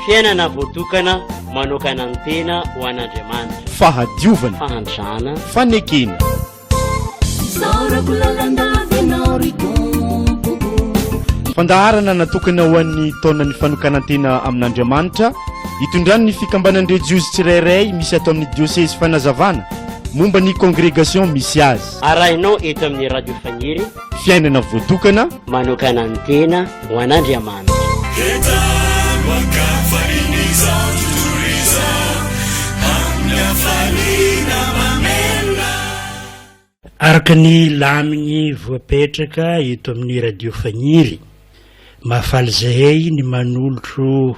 Fiainana voatokana manokana ny tena ho an'Andriamanitra. Fahadiovana. Fahantrana. Fanekena. Fandaharana natokana ho an'ny taonan'ny fanokanan-tena amin'Andriamanitra itondran'ny fikambanan-drejiozy tsirairay misy ato amin'ny diosezy fanazavana momba ny kongregasiona misy azy. Arahinao eto amin'ny Radio Faniry. fiainana voatokana manokana ny tena ho an'Andriamanitra. Entano an-kafa izao tontolo izao amin'ny hafaliana mamelona. Araka ny lamigny voapetraka eto amin'ny Radio Fagniry, mahafaly zahay ny manolotro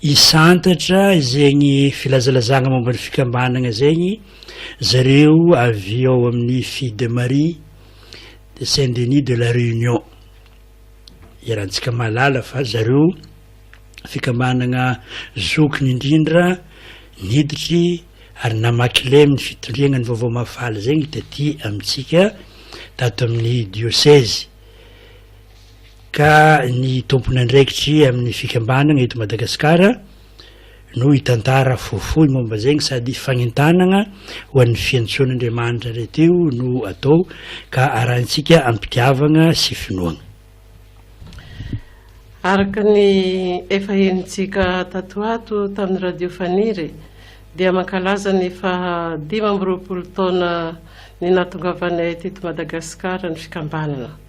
Hisantatra zegny filazalazagna momba ny fikambanagna zegny zareo avy ao amin'ny Fille de Marie de Saint Denis de la Réunion. Iarahantsika mahalala fa zareo fikambanagna zokiny indrindra niditry ary namaky lay amin'ny fitondriagna ny vaovao mahafaly zegny taty amintsika tato amin'ny diosezy. ka ny tompon'andraikitry amin'ny fikambanana eto Madagasikara no hitantara fohifohy momba izegny sady fagnentanagna ho an'ny fiantsoan'Andriamanitra iray teo no atao ka arahintsika am-pitiavagna sy finoagna. Araka ny efa henontsika tato ho ato tamin'ny Radio Faniry dia mankalaza ny faha dimy amby roapolo taona ny nahatongavanay teto Madagasikara ny fikambanana.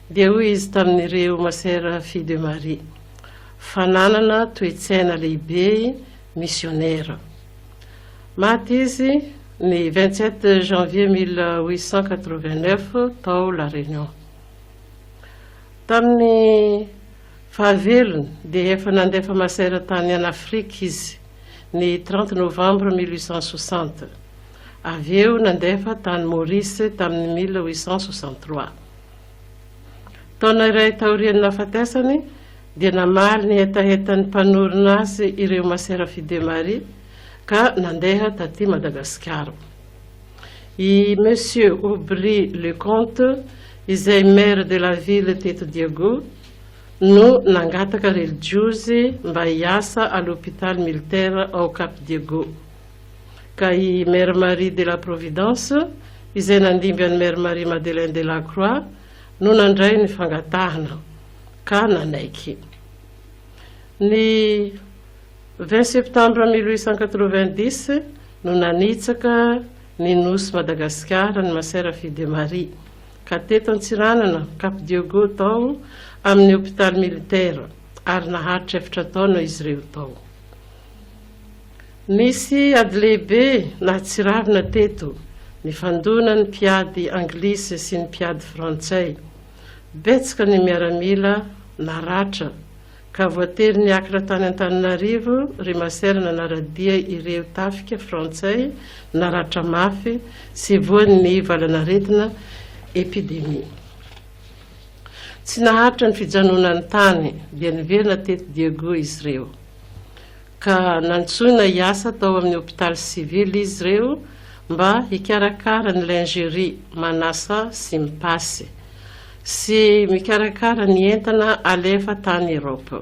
Dia hoy izy tamin'ireo masera Filles de Marie, Fananana toe-tsaina lehibe i misionera. Maty izy ny vingt sept janvier mille huit cent quatre vingt neuf tao La Réunion. Tamin'ny fahavelony dia efa nandefa masera tany an' Afrika izy ny trente novembre mille huit cent soixante. Avy eo nandefa tany Maurice tamin'ny mille huit cent soixante trois. Taona iray taorian'ny nahafatesany, dia namaly ny hetahetan'ny mpanorina azy ireo masera Fidemarie ka nandeha taty Madagasikara. I Monsieur Aubry Leconte, izay maire de la ville teto Diego, no nangataka relijiozy mba hiasa à l'hôpital militaire ao Cap Diego. ka i Mère Marie de la Providence, izay nandimby an'i Mère Marie Madeleine de la Croix, no nandray ny fangatahana ka nanaiky. Ny vingt septembre mille huit cent quatre-vingt-dix no nanitsaka ny nosy Madagasikara ny Masera Fille de Marie, ka teto Antsiranana, Cap Diogo, tao amin'ny hopitaly militaire, ary naharitra efatra taona izy ireo tao. Nisy ady lehibe nahatsiravina teto nifandona ny mpiady anglisy sy ny mpiady frantsay. Betsaka ny miaramila naratra ka voatery niakatra tany Antananarivo ry Masera nanara-dia ireo tafika frantsay naratra mafy sy voan'ny valanaretina, epidemie. Tsy naharitra ny fijanonany tany dia niverina teto Diego izy ireo. ka nantsoina hiasa tao amin'ny hopitaly sivily izy ireo mba hikarakara ny lingerie, manasa sy mipasy, sy mikarakara ny entana alefa tany Europe.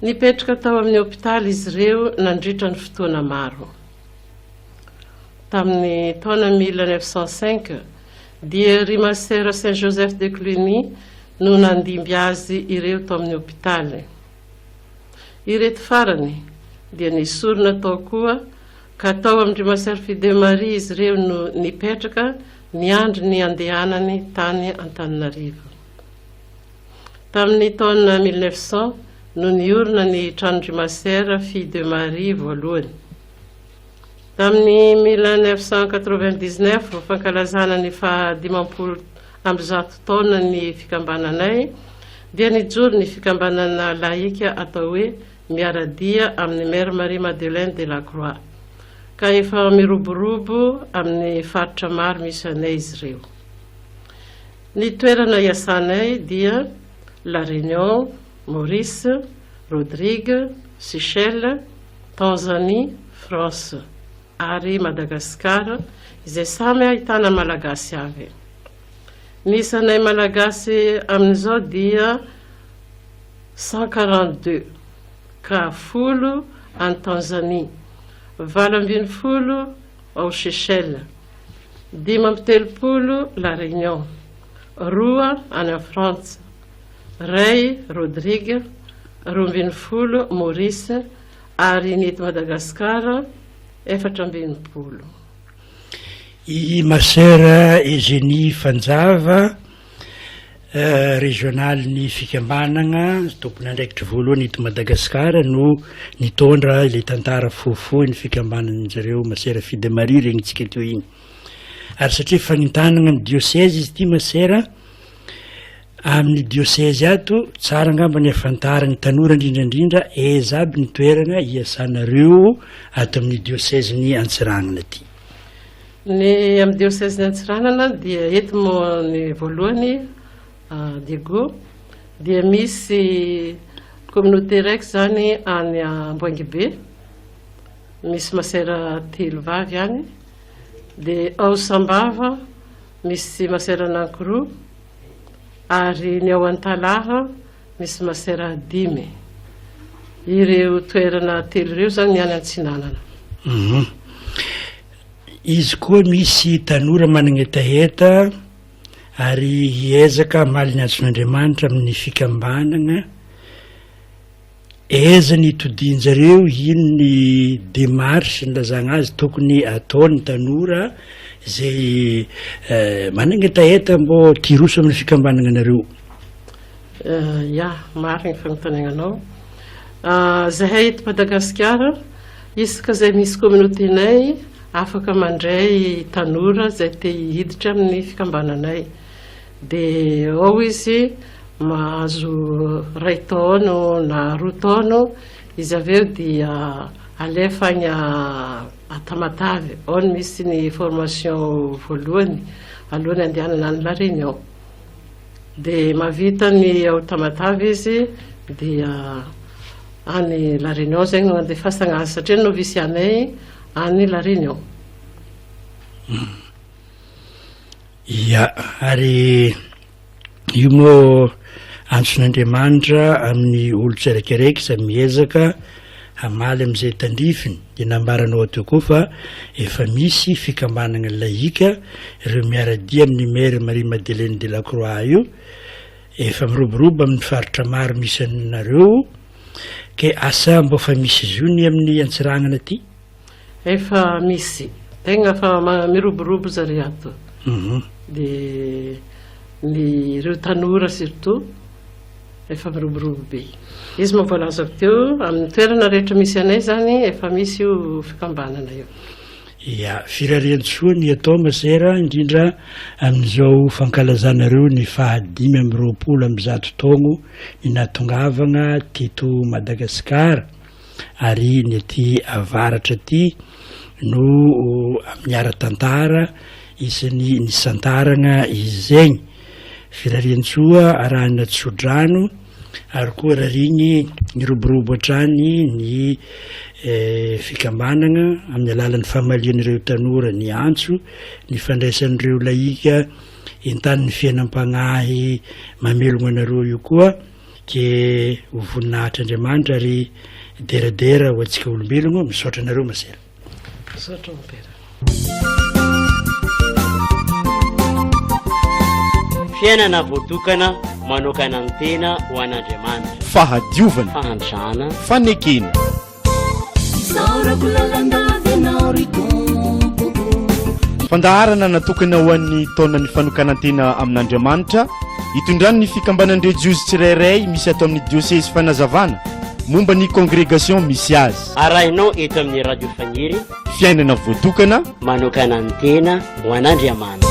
Nipetraka tao amin'ny hopitaly izy ireo nandritra ny fotoana maro. Tamin'ny taona 1905, dia ry Masera Saint Joseph de Cluny no nandimby azy ireo tao amin'ny hopitaly. Ireto farany dia nesorina tao koa ka tao amin-dry Maserfi de Maria izy ireo no nipetraka niandry ny handehanany tany Antananarivo. Tamin'ny taona 1900 no niorina ny tranon-dry Maserfi de Maria voalohany. Tamin'ny mille neuf cent quatre-vingt-dix-neuf vao fankalazana ny faha dimampolo amby zato taonan'ny fikambananay dia nijoro ny fikambanana lahika atao hoe Miara-dia amin'i Mère Marie Madeleine de la Croix ka efa miroborobo amin'ny faritra maro misy anay izy ireo. Ny toerana iasanay dia La Réunion, Maurice, Rodrigue, Seychelles, Tanzanie, France ary Madagascar izay samy ahitana Malagasy avy. Ny isanay Malagasy amin'izao dia cent quarante deux ka folo any Tanzanie, valo ambin'ny folo ao Seychelles, dimy amby telopolo La Réunion, roa any Frantsa, Ray Rodrigue, roa ambin'ny folo, Maurice, ary ny eto Madagasikara, efatra amby enimpolo. I Masera Eugénie Fanjava, Régional-n'ny fikambanana tompon'andraikitry voalohany eto Madagasikara no nitondra ilay tantara fohifohy ny fikambanan'ny zareo Masera Fille de Marie regnitsika teo iny. Ary satria fanintanana ny diocèse izy ity Masera Amin'ny diosezy ato, tsara angamba ny afantaran'ny tanora indrindra indrindra aiza aby ny toerana iasanareo ato amin'ny diosezin'i Antsiranana ity. Ny amin'ny diosezin'i Antsiranana dia eto ny voalohany ah, Diego dia misy communauté raiky zany any Amboangibe, misy masera telo vavy any, dia ao Sambava misy masera anankiroa, ary ny ao Antalaha misy masera dimy. Ireo toerana telo ireo izany ny any Antsinanana. Mhm. Izy koa misy tanora manana hetaheta ary hiezaka hamaly ny azon'Andriamanitra amin'ny fikambanana. Aiza ny itodianjareo ino ny démarche nilazagna azy tokony atao ny tanora zay managna hetaheta mbô te hiroso amina fikambanagna nareo? Ya, marigny ny fagnontaniagnanao. Zahay eto Madagasikara, isaka zay misy communauté nay afaka mandray tanora zay te hiditra aminy fikambananay. Dia ao izy mahazo iray taona na roa taona, izy avy eo dia alefa any Tamatave, ao no misy ny formation voalohany alohan'ny andehanana any La Réunion. Dia mahavita ny ao Tamatave izy dia any La Réunion izay no andefasana azy satria ny noviciat-nay any La Réunion. Ia, ary io moa antson'Andriamanitra amin'ny olon-tsirekireky izay miezaka hamaly amin'izay tandrifiny, dia nambarany ao teo koa fa efa misy fikambanana laïque, ireo miara-dia amin'i Mère Marie Madeleine de la Croix io, efa miroborobo amin'ny faritra maro misy anareo, ke asa mba fa misy zony amin'ny Antsiranana aty? Efa misy tegna fa miroborobo zare ato mhm. de ny ireo tanora surtout efa miroborobo be izy moa voalazako teo amin'ny toerana rehetra misy anay zany efa misy io fikambanana io ya firariantsoa ny atao masera indrindra amin'izao fankalazanareo ny fahadimy am'roapolo am'zato taogno ny natongavagna teto madagasikara ary ny aty avaratra aty no amin'ny ara-tantara isan'ny nisantaragna izy zegny. Firariantsoa arahina tso-drano ary koa rarigny niroborobo hatrany ny fikambanagna amin'ny alalan'ny famalian'ireo tanora ny antso, ny fandraisan'ireo lahika entanin'ny fiainam-pagnahy mamelogna anareo io koa. ke ho voninahitr' Andriamanitra ry deradera ho antsika olombelogno misaotra anareo masera misaotra mpera fiainana voatokana manokana ny tena ho an'Andriamanitra. Fahadiovana. Fahantrana. Fanekena. Isaorako lalandava ianao ry tompoko Fandaharana natokana ho an'ny taonan'ny fanokanan-tena amin'Andriamanitra itondran'ny fikambanan'ireo Jiosy tsirairay misy ato amin'ny diosezy fanazavana momba ny kongregasiona misy azy. Arahinao eto amin'ny Radio Faniry. Fiainana voatokana. Manokanan-tena ho an'Andriamanitra.